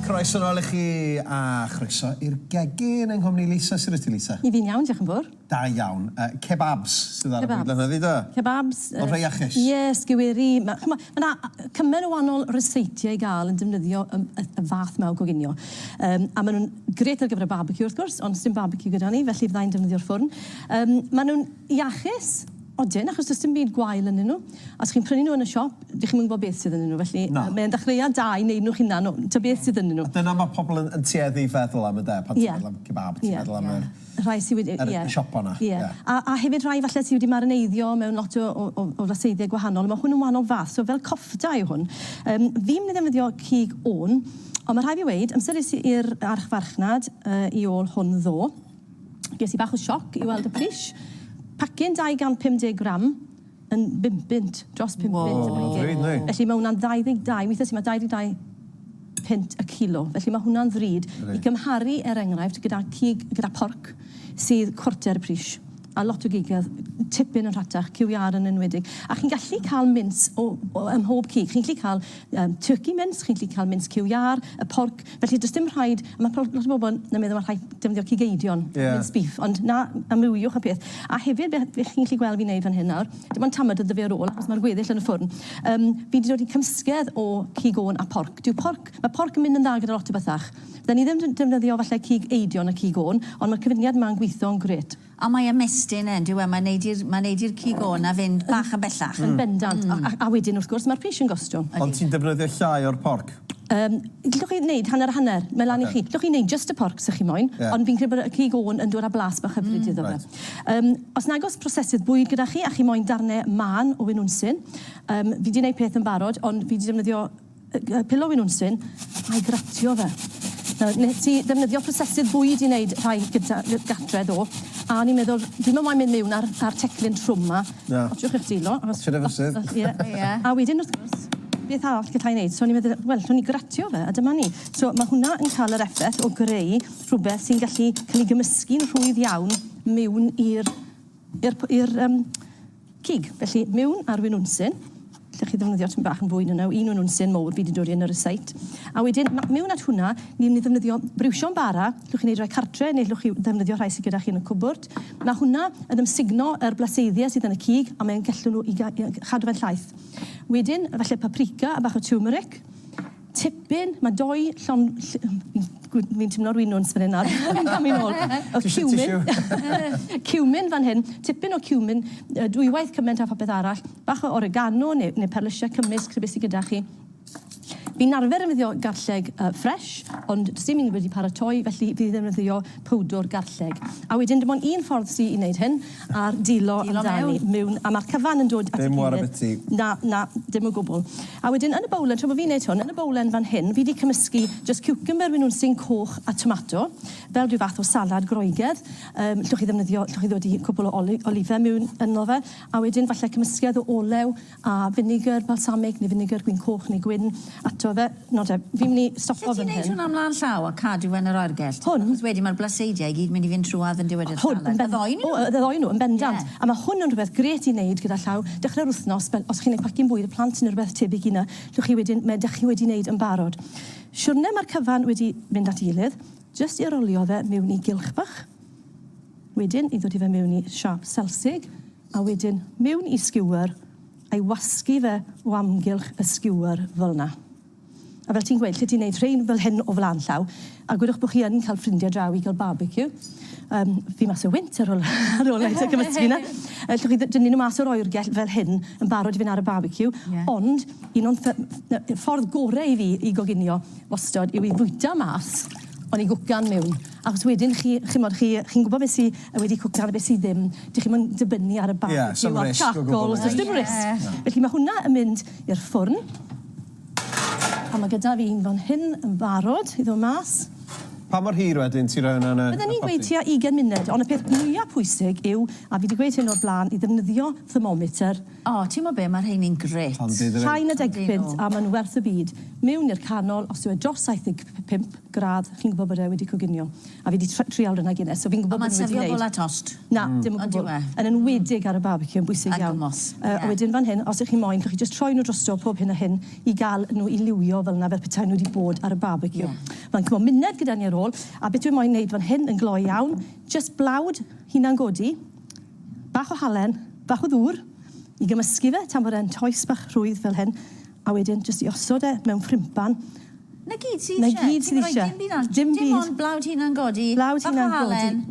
Croeso nôl i chi a chroeso i'r gegin yng nghwmni Lisa. Sut wyt ti Lisa? Dw i'n iawn, diolch yn fawr. Da iawn. Yy kebabs sydd ar y Kebabs. bwydlen heddi do? Kebabs yy... Yn rhei iachus. Ie, sgeweri, ma' ch'mo' ma' 'na yy cymen' o wanol ryseitiau i ga'l yn defnyddio yym y y fath 'ma o goginio. Yym a ma' nw'n grêt ar gyfer y barbeciw wrth gwrs, ond sdim barbeciw gyda ni, felly fydda i'n defnyddio'r ffwrn. Yym ma' nw'n iachus. Odyn, achos does dim byd gwael ynddyn nhw. Os chi'n prynu nhw yn y siop, dych chi'm yn gwybod beth sydd ynddyn nhw, felly... Na. ...mae e'n ddechreuad da i wneud nhw'ch hunan, o, tibod beth sydd ynddyn nhw. A dyna ma' pobl yn yn tueddu i feddwl am ynde? Ie. Pan ti'n meddwl am kebab, ti'n meddwl am yr... Ie, ie. Rhai sy wedi, ie. ...yr y siopa 'na. Ie. Ie. A a hefyd rhai falle sy wedi marineiddio mewn lot o o o o raseiddiau gwahanol, a ma' hwn yn wahanol fath, so fel kofta yw hwn. Yym, fi'm yn ddefnyddio cig wn, ond ma' rhai' fi weud, amser es i i'r archfarchnad yy i ôl hwn ddo, Ges i bach o sioc i weld y pris. Pacyn 250 gram yn bum punt, dros pum punt y pacyn. Ddrud, yndi? Felly mae hwnna'n 22, weithiau sy'n ma 22 punt y cilo. Felly mae hwnna'n ddrud i gymharu, er enghraifft, gyda cig, gyda porc sydd cwarter y pris. A lot o gigedd tipyn yn rhatach, QVR yn enwedig. A chi'n gallu cael mints o, o, ym mhob cig. Chi'n gallu cael Yym turkey mince, chi'n gallu cael mince cyw iâr, y porc, felly does dim rhaid, a ma' prob- lot o bobl yn yn meddwl ma' rhaid defnyddio cig eidion... Ie. ...mince beef, ond na, amrywiwch y peth. A hefyd be' be' chi'n gallu gweld fi'n neud fan hyn nawr, dim ond tamad iddo fe ar ôl achos ma'r gweddill yn y ffwrn, yym fi 'di dod i cymysgedd o cig ôn a porc. Dyw porc, ma' porc yn mynd yn dda gyda lot o bethach. Fydden i ddim d- defnyddio falle cig eidion a cig ôn, ond ma'r cyfuniad 'ma'n gwitho'n grêt. A mae ymestyn yn dyw e, mae'n neud i'r mae'n neud i'r cig o 'na fynd bach yn bellach. Yn bendant. A a wedyn wrth gwrs ma'r pris yn gostio. Ond ti'n defnyddio llai o'r porc? Yym, g'llwch chi neud hanner a hanner, mae lan i chi. G'llwch chi neud jyst y porc 'sa chi moyn, ond fi'n credu bod y cig o yn dod â blas bach hyfryd iddo fe. Yym, os nag o's prosesydd bwyd gyda chi a chi moyn darne mân o winwnsyn, yym, fi 'di neud peth yn barod ond fi 'di defnyddio Y pillow yn unsyn, a'i gratio fe. Nawr, wnes i ddefnyddio prosesydd bwyd i wneud rhai gyda gartre ddo, a o'n i'n meddwl, dwi'm yn moyn mynd mewn â'r â'r teclyn trwm 'ma. Na. Otsiwch eich dwylo, achos... Otsiwch eich dwylo. Os... Ie. Ie. A wedyn, wrth gwrs, beth arall gallai wneud? So o'n i'n meddwl, wel, allwn i gratio fe, a dyma ni. So ma' hwnna yn cael yr effaith o greu rhywbeth sy'n gallu cael ei gymysgu'n rhwydd iawn mewn i'r i'r i'r um, cig. Felly, miwn ar winwnsyn, lle chi ddefnyddio tyn bach yn fwy na naw, un winwnsyn mowr fi wedi dod i yn yr ysait. A wedyn, miwn at hwnna, ni'n ni ddefnyddio briwsio'n bara, llwch chi'n ei roi cartre, neu llwch chi ddefnyddio rhai sydd gyda chi yn y cwbwrd. Mae hwnna yn ymsugno yr blaseiddiau sydd yn y cig, a mae'n gallu nhw i chadw fe'n llaeth. Wedyn, falle paprika a bach o turmeric, Tipyn, mae dou llon... Fi'n timlo rwy'n nwns fan hyn nawr. Fi'n camu nôl. Tissue, tissue. Cumin fan hyn, tipyn o cumin, dwywaith cyment a phopeth arall, bach o oregano neu, neu perlysiau cymysg, rhywbeth sy gyda chi. Fi'n arfer ddefnyddio garlleg ffresh, ond does dim un wedi paratoi, felly fi ddefnyddio powdwr garlleg. A wedyn dim ond un ffordd sy i wneud hyn, a'r dilo amdani mewn... A mae'r cyfan yn dod at ei gilydd... Dim ware biti. Na, na, dim o gwbl. A wedyn yn y bowlen, tra bod fi'n neud hwn, yn y bowlen fan hyn, fi 'di cymysgu jyst ciwcymbyr, maen nhw'n syn coch, a tomato, fel rhyw fath o salad Groegaidd. Yym, llwch chi ddefnyddio, llwch chi ddodi cwpwl o oli- olife miwn ynddo fe, a wedyn falle cymysgedd o olew a finegr balsamig neu finegr gwin coch neu gwin ato fe. Nawr te, fi'n myn' i stopo fan hyn. Allet ti neud hwnna mlan llaw a cadw fe yn yr oergell? Hwn? Achos wedyn ma'r blaseidie i gyd mynd i fynd trwadd yn diwedr y salad. Y ddou o nw? O, y ddou o nw, yn bendant. Ie. A ma' hwn yn rwbeth grêt i neud gyda llaw dechre'r wthnos fel os chi'n neud pacin' bwyd y plant ne' rwbeth tebyg i 'ny lle chi wedyn ma' 'dach chi wedi neud yn barod. Siwrne ma'r cyfan wedi mynd at 'i gilydd, jyst i rolio fe miwn i gylch bach, wedyn i ddodi fe miwn i siâp selsig, A wedyn mewn i skewer a'i wasgu fe o amgylch y skewer fel 'na. A fel ti'n gweud, lle ti'n neud rhein fel hyn o flan llaw, a gwedwch bo' chi yn ca'l ffrindie draw i ga'l barbeciw, yym, fi mas o wynt ar ol ar ol neud e cymysgu 'na. Yy llwch chi dd- dynnu nw mas o'r oergell fel hyn yn barod i fyn' ar y barbeciw. Ie. Ond un o'n ffy- yy ffordd gore i fi i goginio wastod yw i fwyta mas O'n i'n gwcan miwn. Achos wedyn chi, chimod, chi, chi'n gwbod be' sy wedi cwcan a be' sy ddim. Dych chi'm yn dibynnu ar y barbeciw a'r charcoal. Does dim risg. Felly ma' hwnna yn mynd i'r ffwrn. A ma' gyda fi un fan hyn yn barod i ddod mas. Pa mor hir wedyn ti'n rhoi hwnna yn y Bydden i'n gweud tua ugen munud, ond y peth mwya pwysig yw, a fi 'di gweud hyn o'r bla'n, i ddefnyddio thermometer. O, timo be, mae rheini'n grêt! Llai na deg punt a mae'n werth y byd. Mewn i'r canol, os yw e dros 75 gradd, chi'n gwybod bod e wedi coginio. A fi 'di tr- trial rhwna Guinness, so fi'n gwybod bod e wedi neud... Ond mae'n sefio bola tost. Na, dim o gwbl. On'd yw e? Yn enwedig ar y barbeciw, yn bwysig iawn. Ar gymorth, ie. Yy, a wedyn fan hyn, os 'ych chi'n moyn, 'llwch chi jyst troi nhw drosto pob hyn a hyn i ga'l nhw i liwio fel 'na, fel petai nhw 'di bod ar y barbeciw. Ie. Ma'n cymro muned gyda ni ar ôl, a beth dwi moyn neud fan hyn yn gloi iawn, jyst blawd, hunan-godi, Bach o halen, bach o ddŵr i gymysgu fe tan bod e'n toes bach rhwydd fel hyn, a wedyn jyst i osod e mewn ffrympan. 'Na gyd ti isie. 'Na gyd ti isie. Dim byd arall. Dim byd. Dim ond blawd hunan godi. Blawd hunan godi. Bach o halen.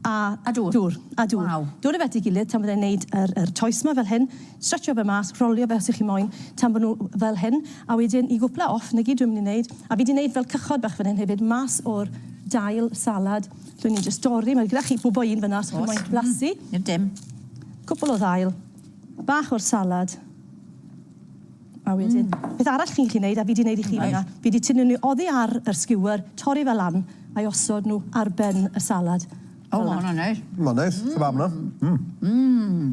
A... A dŵr. Dŵr. A dŵr. Waw. Dod â fe at ei gilydd tan bod e'n neud yr yr toes 'ma fel hyn. Stretsio fe mas, rholio fe os y'ch chi moyn, tan bo' nw fel hyn, a wedyn i gwpla off, 'na gyd dwi myn' i neud, a fi 'di neud fel cychod bach fan hyn hefyd, mas o'r dail salad. Dw i'n jyst dorri, mae gyda chi bwbo un fyna os chi moyn blasu. Dim dim. Cwpl o ddail, bach o'r salad, a wedyn... Mm. ...beth arall chi'n gallu neud, a fi 'di neud i chi fan 'na, fi 'di tynnu n'w oddi ar yr skewer, torri fe lan, a'i osod nhw ar ben y salad. O ma' hwnna'n neis. Ma'n neis. Kebab 'na. Mm. Mm.